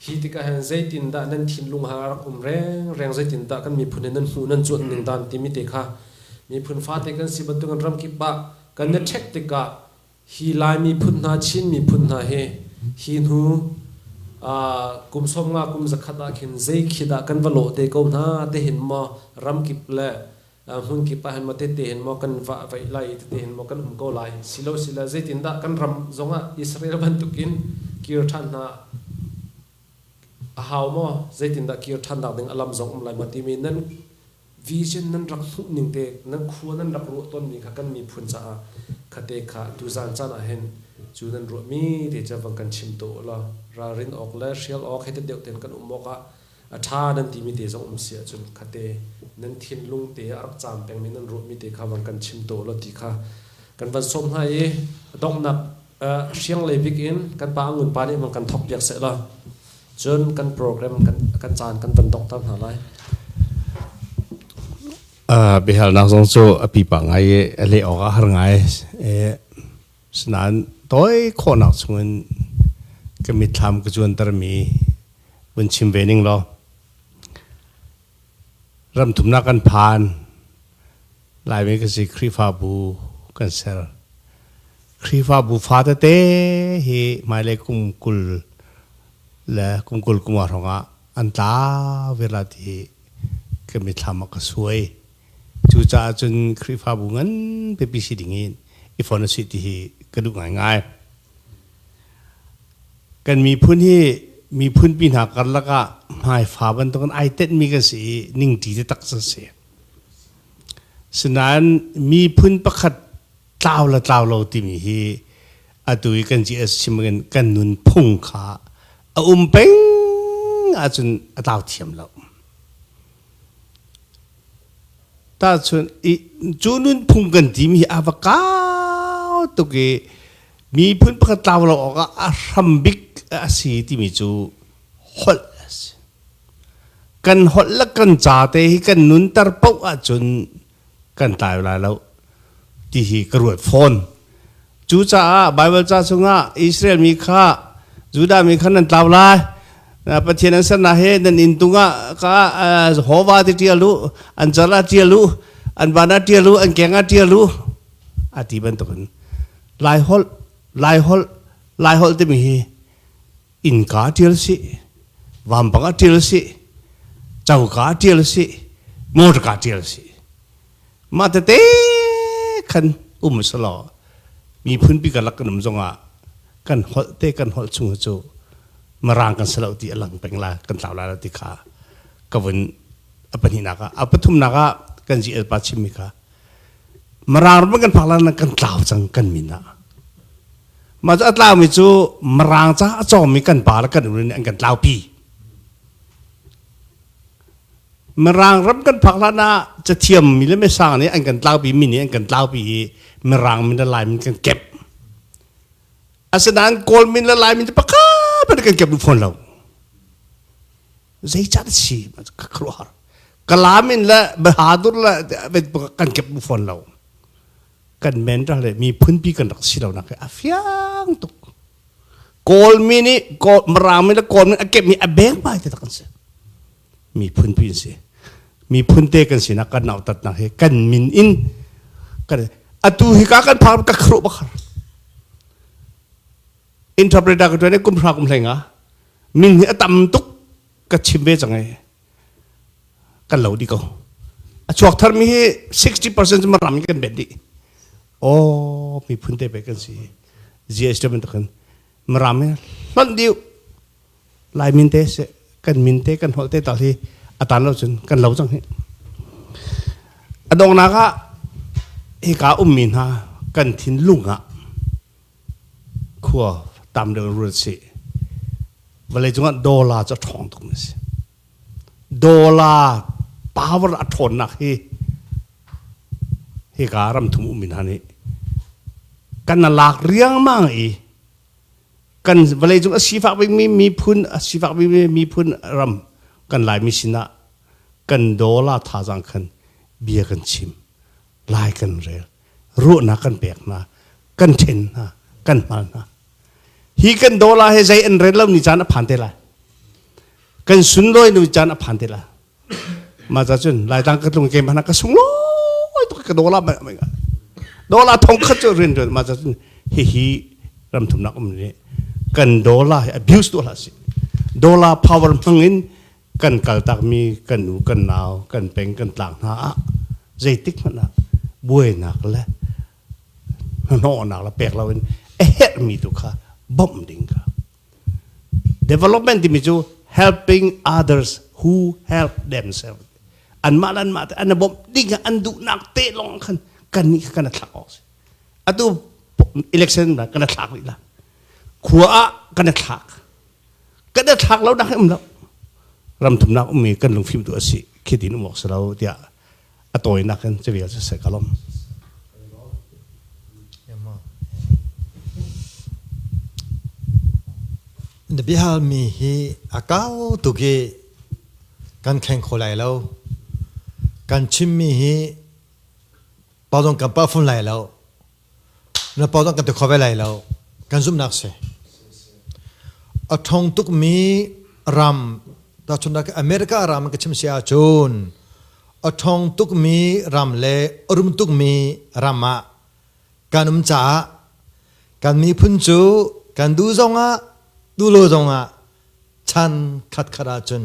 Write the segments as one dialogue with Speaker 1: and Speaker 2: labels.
Speaker 1: Hi tikah hin zeitindah nan thinlung ha a rak um rengreng, zeitindah kan miphun hi nan hmuh nan cuanh ning dan timi te kha miphun fate kan si bantukin ramkip ah kan i ṭhek tikah hi Lai miphun hna, Chin miphun hna hi hi hnu kum sawm nga kum zakhat ah khin zei khi dah kan va lawh te ko hna tihin maw ramkip le hmun kip ah hin maw tete hin maw kan vah vaih lai tete hin maw kan um ko lai silo sila zeitindah kan ram zongah Israel bantukin kir ṭhan hna a hau maw zeitindah kir ṭhan nak ding a lam zong um lai maw timi nan vision nan rak hmuh ning te nan khua nan rak ruah tawn mi kha kan miphun caah khate kha tuzan caan ah hin cu nan ruah mi te cha van kan chim to la ralrin awk le hrial awk hete deuh ten kan um awk ah a ṭha nan timi te zong um si ahcun khatte nan thinlung te a rak cam pengmi nan ruahmi te kha van kan chim taw law ti kha kan van sawm hna i donghnak uh, hrianglei bik in kan pa angun pa nih mang kan thok piak seh law cun kan program kan kan caan kan van dongter hna lai
Speaker 2: uh, bihalnak zong cu a pipa ngai i a leh awk a har ngai Asinain tawi khawhnak chungin ka mitthlam ka zuantermi vun chim ve ning law ramthumnak kan phan Laimi kan si Khrihfabu kan ser Khrihfabu fa tete hi hmailei kum kul le kum kul kung ah hrawngah an tla virat hi ka mitthlam ah ka suai Cucaah cun Khrihfabu nganpi pi si ding i Efornasi ti hi ka duh ngaingai. Kan miphun hi miphun pi hna karlak ah hmaifa bantuk in ai tenhmi kan si i ningti taktak a si. Sinain miphun pakhat tlau le tlau lo timi hi atu i kan ji chim in kan nun phung kha a um peng ahcun a tlau thiam lo. Tahchunh i cu nunphung kan timi hi a va kau tuk i miphun pakhat tlau lo awkah a hram bik a si timi cu holh a si. Kan holh le kan ca te hi kan nunter paoh ahcun kan tlai lai lo ti hi ka ruat fawn cu caah bible ca chungah israel mi kha judah mi kha nan tlau lai pathian an serna he nan in tungah ka hova ti ṭial u an cala ṭial u an bana ṭial u an kenga ṭial u a ti bantukin lai holh lai holh lai holh timi hi innka ṭial sih vampang a ṭial sih coka ṭial sih motor ka ṭial sih mah tete khan um sa law miphun pi kalak kan um zongah kan holh te kan holh chung cu marang kan salo ti alang peng la kan tlau la ti kha ka vun a pahnihnak ah a pathumnak ah kan ji el pa chimmi kha marang ram kan phak la kan tlau cang kan min ah Mah a tlaumi cu Mirang ca a cawmi kan pa le kan unu nih an kan tlaupi. Mirang ram kan phak hlan ah cathiammi le mesang nih an kan tlaupi mi nih an kan tlaupi i Mirang min le Laimin kan kep. Asinain Kawlmin le Laimin cu pakhat in kan kep duh fawn lo. Zeican a si ka khuaruahar. Kalamin le Bahadur le kan kep duh fawn lo. kan men rak le miphun pi kan rak si lo nak a fiang tuk kawlmi nih maraami le kawlmi a kepmi a beng pai te kan si miphun pi si miphun te kan si nak kan nau tat nak hi kan min in kan atu hi ka kan phar ka khru bakhar interpreter ko ne kum hra kum hleng a min hi a tam tuk ka chim ve chang ai kan lo dih ko a chuak thar mi hi 60% cu ram kan bet dih aw miphun te pe kan si GSW bantukin maram hi hlonh diu lai min te se kan min te kan holh te tal hi atan lo cun kan lo cang hi a dongnak ah hika ummi hna kan thin lung ah khua tam deuh rul si vawlei cungah dollar cu a ṭhawng tukmi a si dollar power a ṭhawnnak hi hika ramthum ummi hna nih kan lak riangmang i kan vawlei cung a sifak bikmi miphun a sifak bikmi miphun ram kan laimi sinah kan dollar thazang khan bia kan chim lai kan rel ruahnak kan pek hna kan ṭhen hna kan hmal hna hi kan dola he zei an ren lo ni caan a phan te lai kan sunlawi nu caan a phan te lai ma ca cun lai tang ka tlung ke mana ka sung loi to ka dola ma ma dola thong khat cu rin rin ma ca cun hi hi ram thum nak um ne kan dola he abuse to la si dola power hmangin kan kaltakmi kan nu kan nau kan peng kan tlang hna ah zeitik hmanh ah buainak le hnawhnak le pek loin a herhmi tu kha bawmh ding ka development timi cu helping others who help themselves anmah le anmah te an i bawmh ding ah an duhnak te lawng khan kan nih kan thlak awk si atu election kan thlak rih la khua ah kan thlak kan da thlak lo nak um lo ram thum nak um mi kan lung fim tu asi khi tin um awk si lo tiah a tawi nak in civil sa se ka lom na bihal mi hi akau tuki kan kheng kho lai lo kan chim mi hi
Speaker 3: pawdong kan pa phun lai lo na pau kan te kho ve lai lo kan zumnak si a thong tukmi ram ta chun america ram ka chim sia chun a thong tukmi ram le rum tukmi ram ah kan um ca kan miphun cu kan du zong ah du lo zong ah chan khat khat ah cun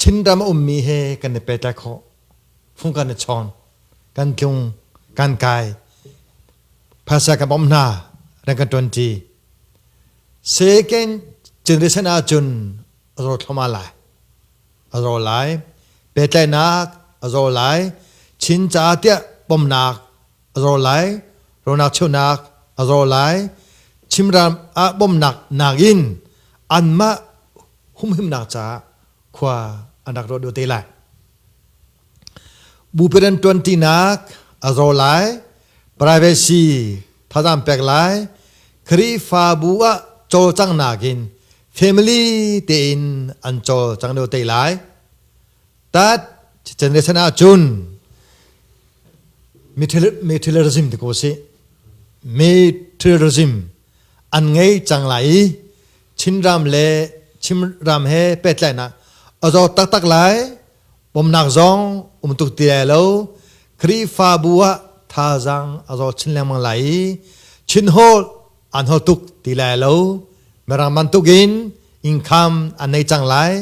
Speaker 3: Chinram a ummi he kan i pehtlaih khawh. Fung kan i chawn, kan tlung, kan kai, phasa kan bawmh hna, ran kan ṭuanṭi. Second generation ahcun a zaw thluahmah lai. A zaw lai. Pehtlaihnak a zaw lai. Chin caah tiah pomnak a zaw lai. Ronak cheuhnak a zaw lai. Chimram ah bawmnak nakin anmah humhimnak caah khua an rak rawt te lai bupiran tuantinak a zo lai privacy thazam pek lai khrihfabu ah cawlcang nakin family tein an cawlcang deuh te lai tat generation ah cun materialism ti ko si materialism an ngei cang lai i Chinram le Chinram he pehtlainak a zawt taktak lai. Pomnak zong um tuk ti lai lo. Khrihfabu ah thazaang a zawt chin lengmang lai i Chin holh an hol tuk ti lai lo. Mirang bantuk in income an nei cang lai.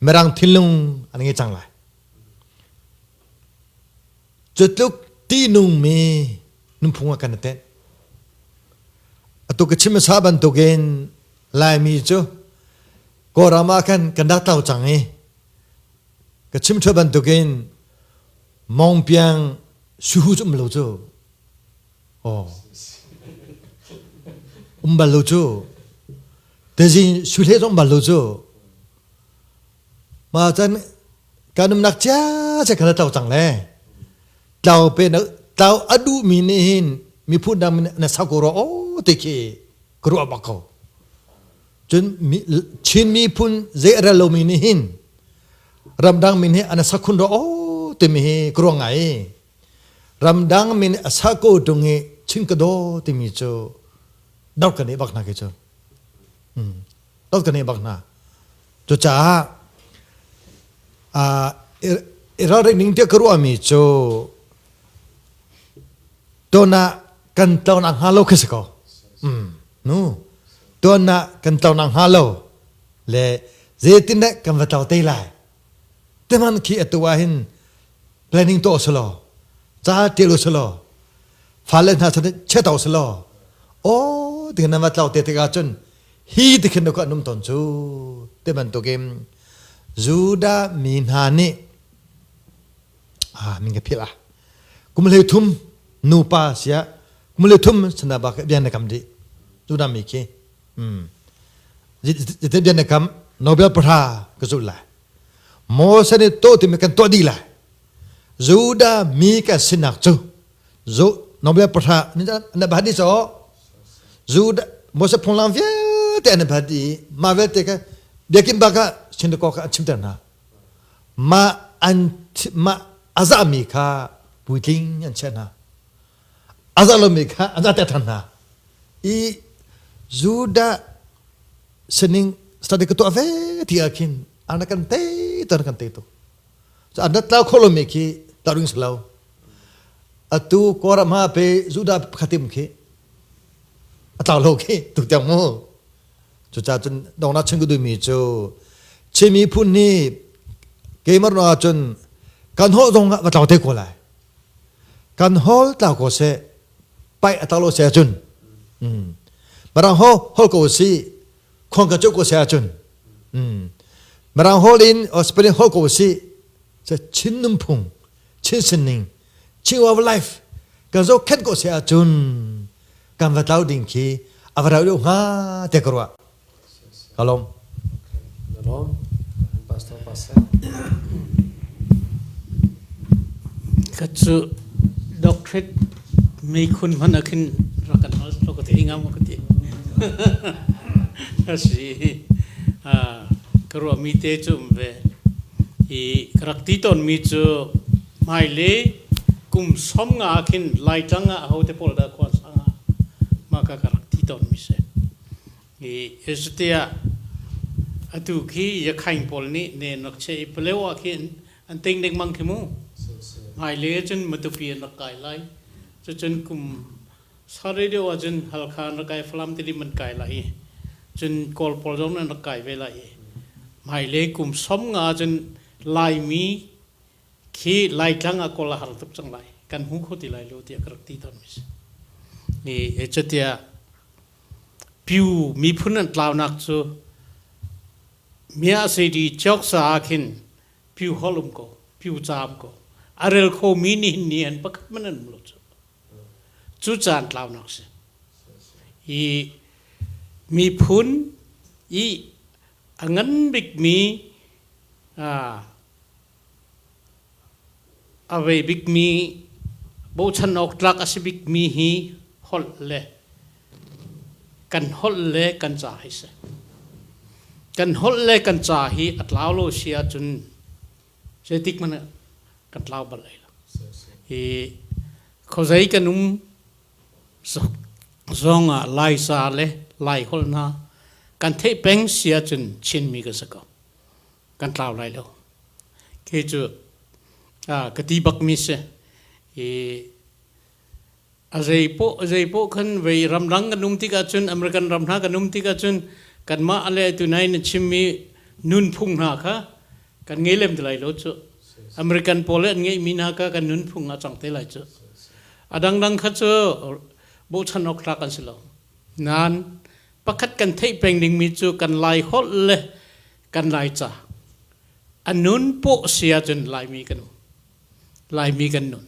Speaker 3: Mirang thinlung an ngei cang lai. Cutluk tihnungmi nunphung ah kan i tenh. Atu ka chim hmasa bantukin Laimi cu Kawlram ah khan kan rak tlau cang i ka chim thua bantukin Mawng Piang suhu cu um lo cu aw um bal lo cu tezin suhle zong um bal lo cu ma can kan umnak cia cia kha tlau cang le tlau pe na tlau a duh mi nih hin mi phu dang na sau ko ro o ti khi ka ruah bak ko cun chin mi phun zei a ral lomi nih hin ramdang min hi ana sakhun ro o timi hi ka ruang ngai ramdang min a sa ko tung i chin ka do timi cu dau kan i bak na ke cu Tok kan bak hna. Cucaah iralring ning tiah ka ruahmi cu tuanah kan tlawnah hnga lo khi si ko. Nu, tuanah kan tlawnah hnga lo le zeitin deh kan va tlau te lai teman khi atu ah hin planning to salo cha te lo salo fale hna san che to salo o ti na ma tlau te te ga chun hi ti khin ka num ton chu te man to game judah mi hna ni ah min ka phila kum le thum nu pa sia kum le thum sana ba ka bian na kam di judah mi khi Zite bian ne kam Nobel pahra ka zulh lai. Moses nih to tim kan to di lai. Judah mi ka sinak cu zu Nobel pahra na ba di so Judah Moses phunglam vialte an ba di ma vialte ka biakin baka sin ko ka chim ter na ma an ma aza mi kha puitling an che na a zarh lomi kha a zahter ṭhan hna i Judah sining study ka tuah ve ti ah khin an kan tei tu an kan tei tuk so an rat lau kho lomi khi tarung si lo atu koram ha pe Judah pakhatim khi a tlau lo khi tuk tiang mu cucacun dongnak chun ku duimi cu chimi phun ni keimar no ahcun kan ho zong ah va tlau te ko lai kan hol tlau ko seh pai atak lo se cun marang ho hol ko si khong ka cuk ko se cun marang hol in spelling hol ko si se chin num phung chin sinning chin of life kan zo khen ko se cun kan va tlau ding khi ava rau deuh hnga te karwa Ka lawm. Na
Speaker 1: lawm. Pastor Pastor.
Speaker 4: Ka cu doctorate mei khun hman a khin rakan al to ka te ngam ka ti. Asi. Ah, ka ruwa mi te cu umve. I ka rak ti ton mi cu hmai le kum som nga khin lai tlang ah ho te pol da khuan sang ah ma ka ka rak ti ton mi se. Zeitiah atu khi Yakhain pawl nih nen rak chiah i Paleo ah khin an tei lengmang khi mu. Hmailei ahcun Matupi an rak kai lai. Cucun kum sarih deuh ahcun Halkha an rak kai, Falam tidim an kai lai i cun Kawl pawl zong nih an rak kai ve lai i hmailei kum sawm nga ahcun Laimi khi Laitlang ah kawl a har tuk cang lai kan hmu kho ti lai lo tiah ka rak ti tawn mi si i cutia pyu miphun an tlaunak cu mia sei di chok sa ah khin pyu hol um ko pyu caam ko a rel kho mi nih ni an pakhat man an mulo cu cu caan tlaunak si i miphun i a ngan bik mi A vei bikmi, bochan awk tlak a si bikmi hi holh le kan holh le kan ca hi si. Kan holh le kan ca hi a tlau lo si ahcun zeitik hmanh ah kan tlau bal lai lo. Hi khuazei kan um zong ah Laica le Laiholh hna kan theih peng si ahcun Chinmi ka si ko. kan tlau lai lo. Kei cu ah ka ti bak mi si. I a zeipoh, a zeipoh khan vei ramdang kan um tikah cun, American ram hna kan um tikah cun, kanmah a le tu nai na chim mi nunphung hna kha kan ngei lem ti lai lo cu. American pawl le an ngeih mi hna kha kan nunphung ah cang te lai cu. A dangdang kha cu bochan awk tlak an si lo. Nain, pakhat kan theih peng dingmi cu kan lai holh le kan laica a nun pawh si ahcun laimi kan um laimi kan nun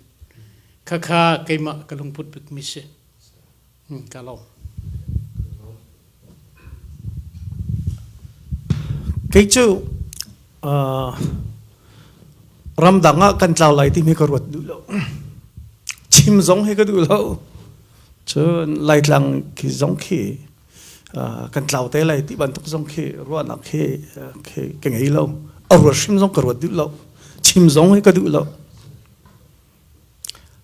Speaker 4: khakha keimah ka lungput bikmi si hmm, ka lawm
Speaker 5: kei cu uh, ramdang ah kan tlau lai timi ka ruat duh lo chim zong he ka duh lo Cun Laitlang ki zong khi uh, kan tlau te lai ti bantuk zong khi ruahnak khi uh, khi ka ngei lo. A ruat hrim zong ka ruat duh lo. Chim zong hi ka duh lo.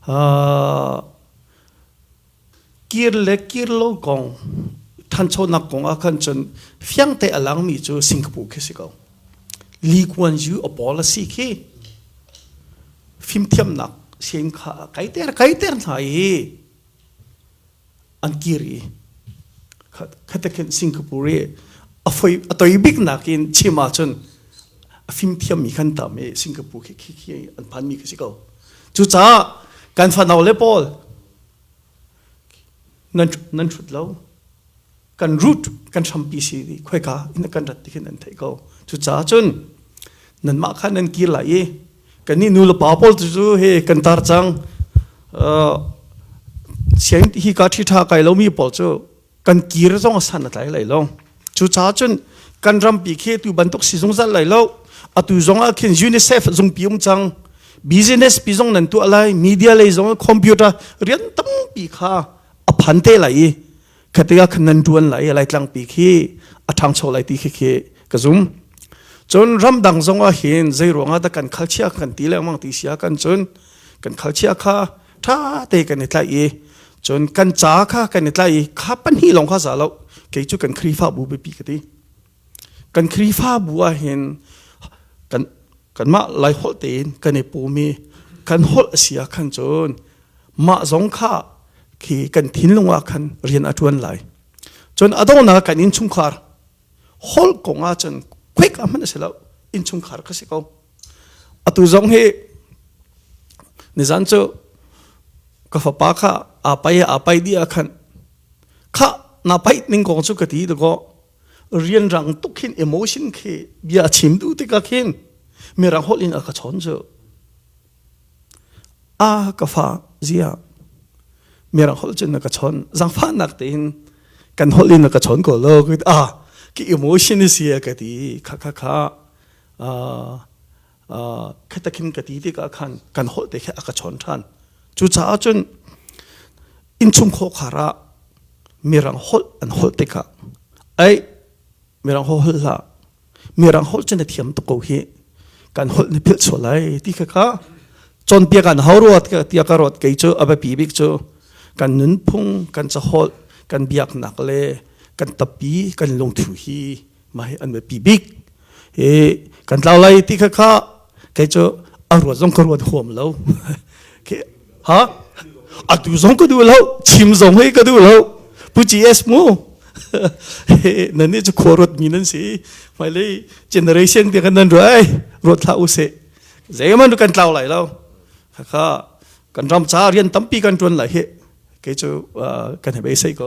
Speaker 5: Uh, kir le kir lo kong thanchonak kong ah khan cun fiang te a langmi cu Singapore khi si ko. Li Kuan Yu a pawl a si khi fimthiamnak sian kha a kaiter kaiter hna i an kir i khata khin Singapore i a foi a toi bik nakin chim ahcun a fimthiam mi kan tam i Singapore khi khi khi an phan mi khi si ko cucaah kan fanau le pawl nan nan hrut lo kan root kan hrampi si di khoika in kan rat tikhin an theih ko cucaah cun nanmah kha nan kir lai i kan nih nu le pa pawl tu he kan tar cang siang hi ka thi tha kai lomi pawl cu kan kir zong a san a tlai lai lo cucaah cun kan rampi khi tu bantuk si zungzal lai lo atu zong ah khin UNICEF zung pi um cang business pi zong nan tu alai media lei zong computer rian tampi kha a phan te lai i khati ah khan nan tuan lai lai tlangpi khi a ṭhangcho lai ti khi khi ka zum cun ramdang zong ah hin zei ruangah dah kan khalchia kan ti lengmang ti sia kan cun kan khalchia kha ṭha te kan i tlai i cun kan ca kha kan i tlai i kha pan hi lawng kha za lo kei cu kan khrifa bu biapi ka ti kan Khrihfabu ah hin kan kanmah laiholh tein kan i pum i kan holh a si ah khan cun mah zong kha khi kan thinlung ah khan rian a ṭuan lai cun a donghnak kan innchungkhar holh kong ah cun quick a hman a si lo innchungkhar ka si ko atu zong hi nizan cu ka fapa kha apai apai di ah khan kha na paih ning kong cu ka ti to rianrang tuk hin emotion khi bia chim duh tikah khin mirang holh in a ka chon cu a ka fa zia mirang holh cun na ka chon zangfa nak tein kan holh in na ka chon ko lo ka a ki emotion is ya ka ti kha kha kha khetakhin ka ti tikah khan kan holh te khe a ka chon ṭhan cucaah cun innchung khawkhar ah mirang holh an holh tikah ai mirang ho holh hlah mirang holh cun a thiam tuk ko hi kan holh na philh sual lai ti kha ka cawnpiak an hau ruat ka tia ka ruat kei cu abapi bik cu kan nunphung kan caholh kan biaknak le kan tappi kan lungthu hi mai an me pi bik hi kan tlau lai ti kha kha kei chu a ruat zong ka ruat huam lo ke ha a tu zong ka du lo chim zong hei ka du lo pu gs mu nan ni chu khuarot mi nan si mai lei generation te kan nan rai rot thla u se zeiman kan tlau lai lo kha kha kan ram cha rian tampi kan tuan lai he ke chu kan hebe sei ko